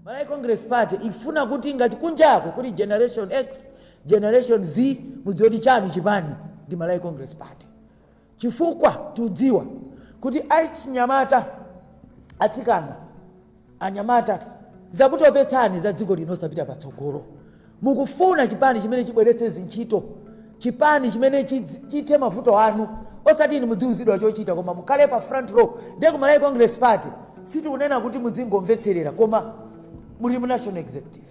malawi congress party ikufuna kuti ngati kunjako kuli generation x generation z mudziwe kuti chanu chipani ndi malawi congress party chifukwa tiudziwa kuti achinyamata atsikana Anyamata, zakutopetsani za dziko lino osapita patsogolo. Mukufuna chipani chimene chibweretse zintchito, chipani chimene chidz- chithe mavuto anu, osati inu mudziuzidwa chochita koma mukhale pa front row. Ndiye ku Malawi Congress Party sitikunena kuti mudzingomvetserera koma muli mu National Executive.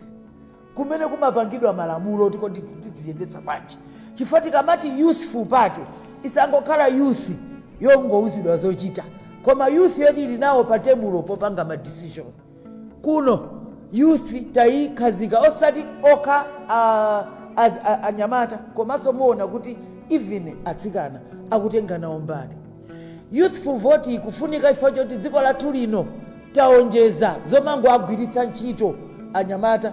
kumene kumapangidwa malamulo oti kodi tidziyendetsa bwanji chifukwa tikamati youthful party isangokhala youth yongouzidwa zochita koma youth yoti ili nawo pa tebulo popanga ma decision kuno youth tayikhazika osati okha a- az- a- anyamata komanso muona kuti even atsikana akutenga nawo mbali Youthful vote ikufunika chifukwa choti dziko lathu lino tawonjeza zomangowagwiritsa ntchito anyamata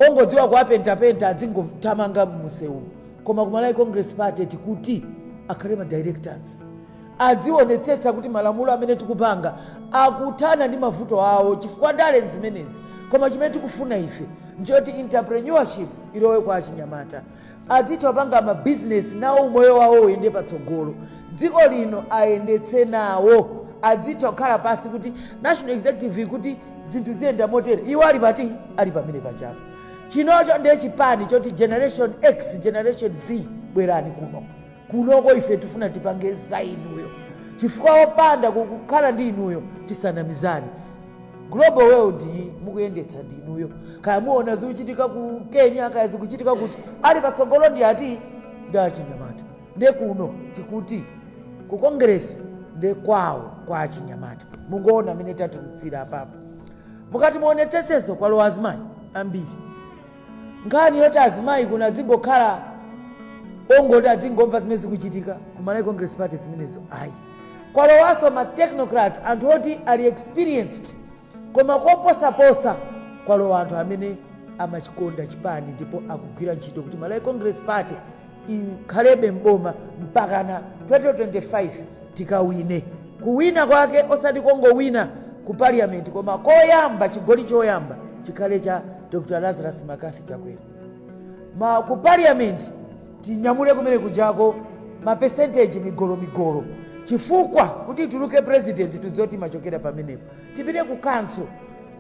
ongodziwa kuwapentapenta adzingothamanga mmusewumu koma ku Malawi Congress Party tikuti akhale ma directors adzionetsetsa kuti malamulo amene tikupanga akuthana ndi mavuto awo chifukwa ndale nzimenezi koma chimene tikufuna ife nchoti entrepreneurship ilowe kwa achinyamata adzitha kupanga mabizinesi nawo umoyo wawo uyende patsogolo dziko lino ayendetse nawo adzitha kukhala pansi ku national executive ikuti zinthu ziyenda motere iwo ali pati ali pamene pachawo chinocho ndiye chipani choti generation x generation z bwerani kuno kunoko ife tifuna tipange za inuyo chifukwa opanda ku- kukhala ndi inuyo tisanamizane global world iyi mukuyendetsa ndi inuyo kaya muona zikuchitika ku kenya kaya zikuchitika kuti ali patsogolo ndi ati ndi achinyamata nde kuno tikuti ku kongresi nde kwawo kwa achinyamata mungoona amene tatulutsa apapo mukati muonetsetseso kwalowa azimayi ambiri Nkhani yoti azimayi kuno adzingokhala ongoti adzingomva zimene zikuchitika ku Malawi Congress Party zimenezo ayi. Kwalowanso ma technocrats anthu oti ali experienced koma koposaposa kwalowa anthu amene amachikonda chipani ndipo akugwira ntchito kuti Malawi Congress Party ikhalebe m'boma mpakana 2025 tikawine. Kuwina kwake osati kongowina ku parliament koma koyamba chigoli choyamba chikhale cha Dr Lazarus McCarthy Chakwera. Ma ku parliament tinyamule kumene kujako ma percentage migolo migolo chifukwa kuti atuluke president tidziwa kuti timachokera pamenepo tipite ku council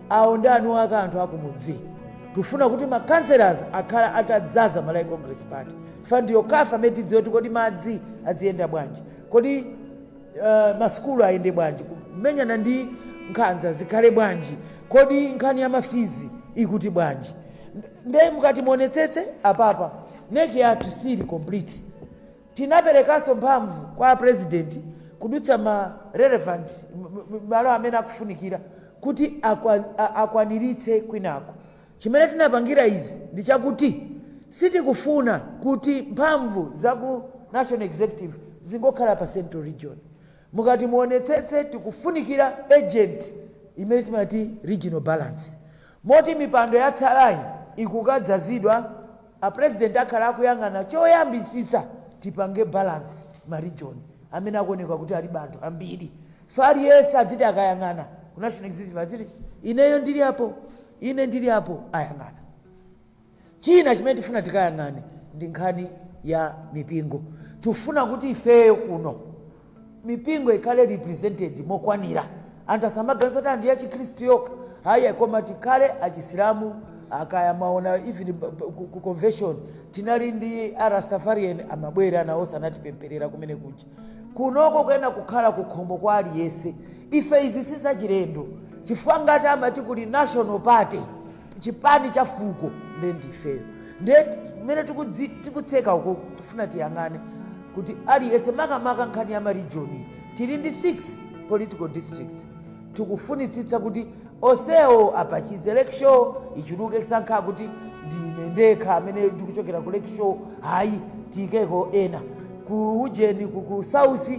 awo ndi eniake anthu akumudzi tufuna kuti ma councillors akhala atadzaza malawi congress party chifukwa ndiyo kaya mmene tidziwe kuti kodi madzi aziyenda bwanji kodi uh, masukulu ayende bwanji kumenyana ndi nkhanza zikhale bwanji kodi nkhani ya ma fees ikuti bwanji Nd- nde mukati muonetsetse apapa NEC yathu sili complete Tinaperekanso mphamvu kwa a President kudutsa ma relevant malo amene akufunikira kuti akwaniritse kwinaku. Chimene tinapangira izi ndi chakuti sitikufuna kuti mphamvu za ku National Executive zingokhala pa Central Region. Mukati muonetsetse tikufunikira ujeni imene timati regional balance. Moti mipando yatsalayi ikukadzazidwa, a President akhala akuyang'ana choyambitsitsa tipange balance ma region amene akuoneka kuti alibe anthu ambiri. Tifuna aliyense adziti akayang'ana ku National Executive adziti ineyo ndili apo, ine ndili apo, ayang'ana. China chimene tifuna tikayang'ane ndi nkhani ya mipingo. Tifuna kuti ifeyo kuno mipingo ikhale represented mokwanira, anthu asamaganize kuti ndi yachikhristu yokha ayi, koma tikhale achisilamu kaya mwaona even ku convention tinali ndi arastafarian amabwera nawo sanatipempherera kumene kuja kunoko kuyenera kukhala kukhomo kwa aliyese ife izi sizachilendo chifukwa ngati amati kuli national party chipani cha fuko nde ndifeyo nde mmene tikutseka uku tifuna tiyang'ane kuti aliyense makamaka nkhani ya ma region tili ndi 6 political districts tikufunitsitsa kuti onsewo apatsidwe Lakeshore ichuluke sankha kuti ndine ndekha amene ndikuchokera ku Lakeshore hayi tiyikeko ena ku ujeni ku ku south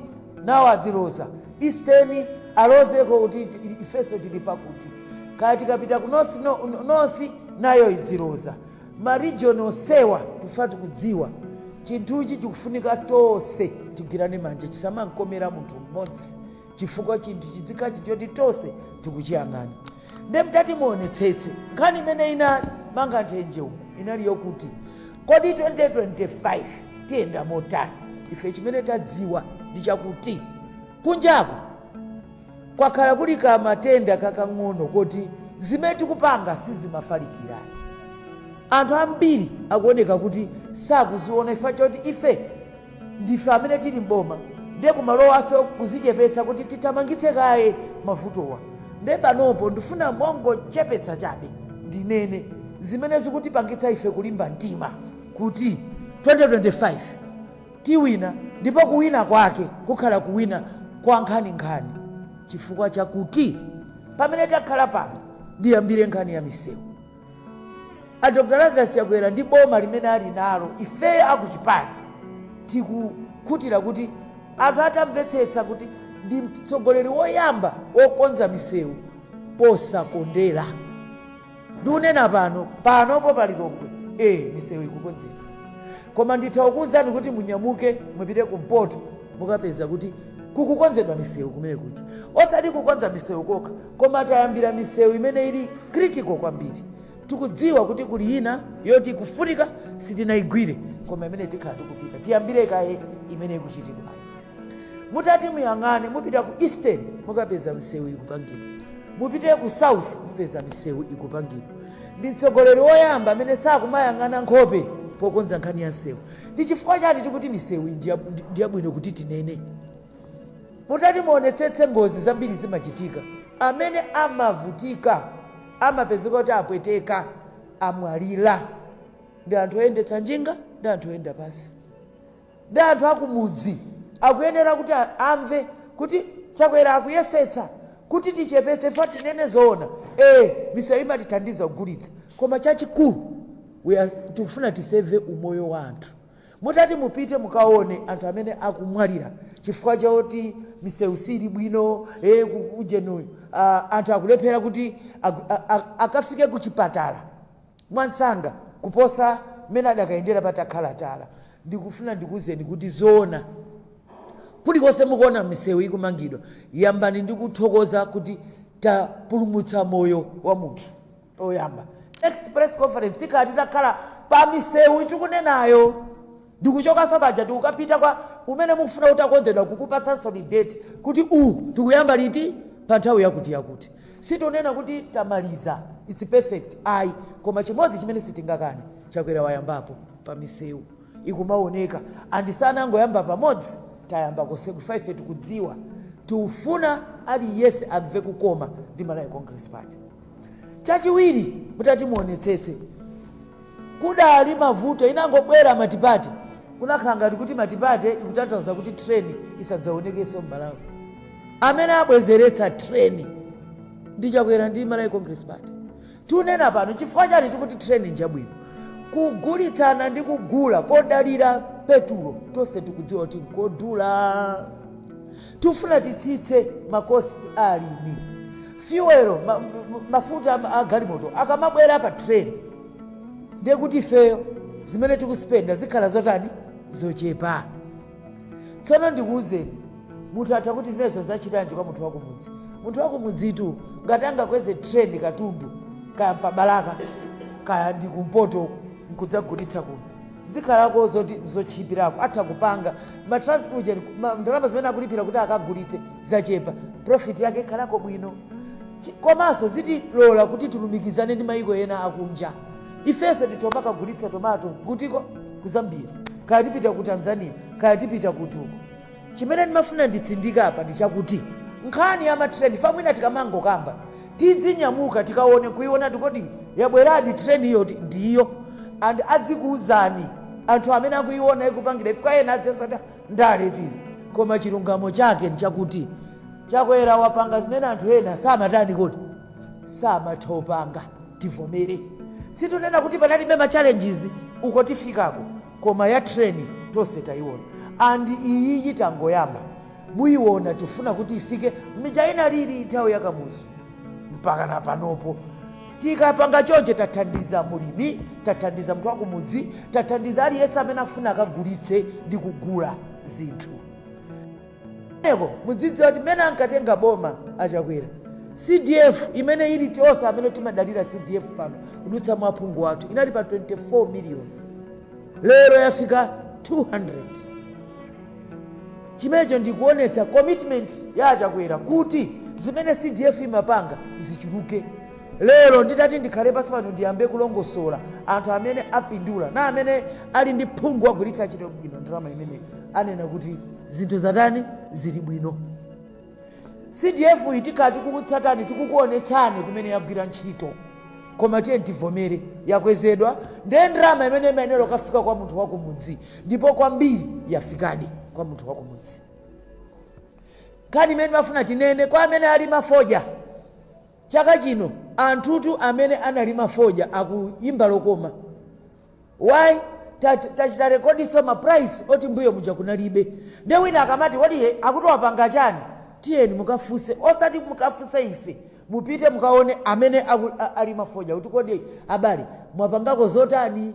nawo adziloza eastern alozeko kuti ifenso tili pakuti kaya tikapita ku north nayo idziloza ma region onsewa chifukwa tikudziwa chinthuchi chikufunika tonse tigwirane manja chisamankomera munthu mmodzi chifukwa chinthu chi dzikoli choti tonse tikuchiyang'ana nde mtati muonetsetse nkhani imene inali mkamwamkamwa uku inali yokuti kodi 2025 tiyenda motani ife chimene tadziwa ndi chakuti kunjaku kwakhala kuli ka matenda kakang'ono koti zimene tikupanga sizimafalikira anthu ambiri akuoneka kuti sakuziona chifukwa choti ife Ndife amene tili m'boma nde kumalowanso kuzichepetsa kuti tithamangitse kaye mavutowa nde panopo ndifuna mongodzichepetsa chabe ndinene zimene zikutipangitsa ife kulimba mtima kuti 2025 tiwina ndipo kuwina kwake kukhala kuwina kwa nkhaninkhani chifukwa chakuti pamene takhala pano ndiyambire nkhani ya misewu. A Dr Lazarus Chakwera ndi boma limene ali nalo, ifeyo a kuchipani tikukhutira kuti anthu atamvetsetsa kuti ndi mtsogoleri woyamba wokonza misewu posakondera. Ndikunena pano, panopo pa Lilongwe, ee misewu ikukonzedwa. Koma nditha kukuuzani kuti munyamuke mupite kumpoto mukapeza kuti kukukonzedwa misewu kumene kuja. Osati kukonza misewu kokha, koma tayambira misewu imene ili critical kwambiri tikudziwa kuti kuli ina yoti ikufunika sitinayigwire koma imene tikhala tikupita tiyambire kaye imene ikuchitidwa mutati muyang'ane mupite ku eastern mukapeza misewu ikupangidwa mupite ku south mupeza misewu ikupangidwa ndi mtsogoleri woyamba amene sakumayang'ana nkhope pokonza nkhani ya msewu ndi chifukwa chani tikuti misewu ndi yab- ndi yabwino kuti tinene Mutati muonetsetse ngozi zambiri zimachitika amene amavutika amapezeka kuti apweteka amwalira ndi anthu oyendetsa njinga ndi anthu oyenda pansi ndi anthu akumudzi akuyenera kuti a- amve kuti chakwera akuyesetsa kuti tichepetse imfa tinene zoona ee misewu imatithandiza kugulitsa koma chachikulu we are- tikufuna tiseve umoyo wa anthu Mutati mupite mukaone anthu amene akumwalira chifukwa choti msewu suli bwino e, ujeni uyu a, anthu akulephera kuti agu- a- a- akafike ku chipatala mwansanga kuposa mmene adakayendera patakhala tala. Ndikufuna ndikuwuzeni kuti zoona kulikonse mukuona misewu ikumangidwa, yambani ndi kuthokoza kuti tapulumutsa moyo wa munthu. oyamba next press conference tikhala titakhala pa misewu tikunenayo ndikuchokanso paja tikukapita kwa umene mukufuna kuti ukonzedwe kukupatsaninso date kuti uwu tikuyamba liti pa nthawi yakuti yakuti sitonena kuti tamaliza its perfect ayi koma chimodzi chimene sitingakane chakwera wayambapo pa misewu ikumaoneka andi sanangoyamba pamodzi tayamba konseko chifukwa ife tikudziwa tiufuna aliyense amve kukoma ndi malawi congress party chachiwiri mutati muonetsetse kudali mavuto inangobwera matipate kunakhala ngati kuti matipate ikutanthauza kuti treni isadzaonekenso m'malawi amene abwezeretsa treni ndi chakwera ndi malawi congress party tunena pano chifukwa chani tikuti treni njabwino kugulitsana ndi kugula kodalira petulo tonse tikudziwa kuti nkodula Tifuna titsitse ma cost a alimi. Fuel, ma, mafuta a galimoto akamabwera pa train ndiye kuti ifeyo zimene tikuspenda zikhala zotani zochepa. Tsono ndikuwuzeni munthu atha kuti zimenezo zachitanji kwa munthu wakumudzi. Munthu wakumudzitu ngati angakweze train katundu kaya mpabalaka kaya ndi kumpoto nkudzagulitsa kuno. zikhalako zoti zotchipirako atha kupanga ma transport ndalama zimene akulipira kuti akagulitse zachepa profit yake ikhalako bwino komanso zitilola kuti tilumikizane ndi mayiko ena akunja ifenso titoma kagulitsa tomato kutiko ku zambia kaya tipita ku tanzania kaya tipita kutiko chimene ndimafuna nditsindika apa ndi chakuti nkhani ya matreni fa mwina tikamangokamba Tidzinyamuka tikaone nkuiona kuti yabweradi train iyo kuti ndi iyo and adzikuuzani anthu amene akuiona ikupangira ifika ena adzenso kuti ndale eti izi koma chilungamo chake nchakuti chakwera wapanga zimene anthu ena samatani kodi samatha kupanga tivomere situnena kuti panalibe ma challenges uko tifikako koma ya treni tonse tayiona and iyiyi tangoyamba muyiwona tifuna kuti ifike muja inalili nthawi ya kamuzu mpakana panopo tikapanga choncho tathandiza mulimi tathandiza mnthu wakumudzi tathandiza aliyense amene afuna akagulitse ndi kugula zinthu enanso mudzidziwa kuti mmene ankatenga boma achakwera cdf imene ili tonse amene timadalira cdf pano kudutsa mwa phungu wathu inali pa 24 miliyoni lero yafika 200 Chimenecho ndi kuonetsa commitment ya a Chakwera kuti zimene CDF imapanga zichuluke. Lero nditati ndikhale pansi pano ndiyambe kulongosola anthu amene apindula na amene ali ndi phungu wagwiritsa ntchito bwino ndalama imeneyi anena kuti zinthu zatani zili bwino. cdf iyi tikhala tikukutsatirani tikukuonetsani kumene yagwira ntchito koma tiyeni tivomere yakwezedwa ndiye ndalama imene imayenera kukafika kwa munthu wakumudzi ndipo kwambiri yafikadi kwa munthu wakumudzi nkhani imene ndimafuna tinene kwa amene alima fodya chaka chino anthutu amene analima fodya akuyimba lokoma Why? Tachita rekodiso ma price oti mbuyo muja kunalibe. Ndiye wina akamati kodi akuti wapanga chani? Tiyeni mukafuse osati mukafuse ife. Mupite mukaone amene alima fodya kuti kodi abale mwapangako zotani?